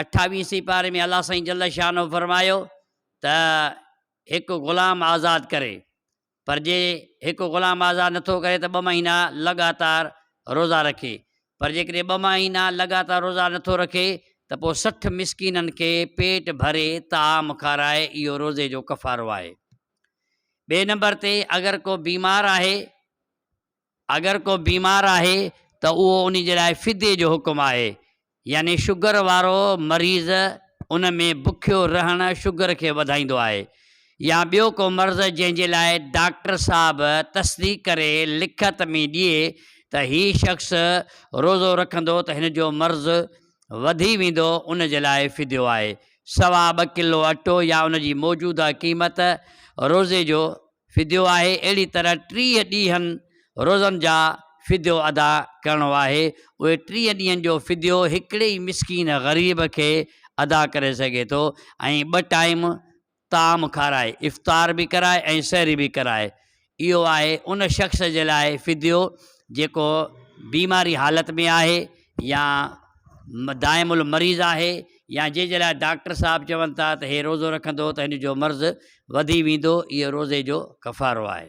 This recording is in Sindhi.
اٺاويهين سيپاري ۾ الله سائين جل شانه فرمايو ته هڪ غلام آزاد ڪري پر جي هڪ غلام آزاد نٿو ڪري ته ٻه مهينا لڳاتار روزا رکي پر جيڪڏهن ٻه مهينا لڳاتار روزا نٿو رکي ته پوء سٺ مسڪينن کي پيٽ ڀري طعام کارائي اهو روزي جو ڪفارو آهي ٻئي نمبر تي اگر ڪو بيمار آهي اگر ڪو بيمار آهي ته اهو ان جي لاء فديي جو حڪم آهي، يعني شگر وارو مريض ان ۾ بکيو رهڻ شگر کي وڌائيندو آهي يا ٻيو ڪو مرض جنهن جي لاء ڊاڪٽر صاحب تصديق ڪري لکت ۾ ڏئي ته هي شخص روزو رکندو ته هن جو مرض وڌي ويندو ان جي لاء فديو آهي سوا ٻه ڪلو اٽو يا ان جي موجوده قيمت روزي جو فديو آهي اهڙي طرح ٽيهه ڏينهن روزن جا فديو ادا ڪرڻو آهي اهي ٽيهه ڏينهن جو فديو هڪڙي ئي مسڪين غريب کي ادا ڪري سگهي ٿو ۽ ٻه ٽائيم طعام کارائي افطار به ڪرائي ۽ سحري به ڪرائي اهو آهي ان شخص جي لاء فديو جيڪو بيماري حالت ۾ آهي يا دائم المريض آهي يا جنهن جي لاء ڊاڪٽر صاحب چون ٿا ته هي روزو رکندو ته هن جو مرض وڌي ويندو اهو روزي جو ڪفارو آهي.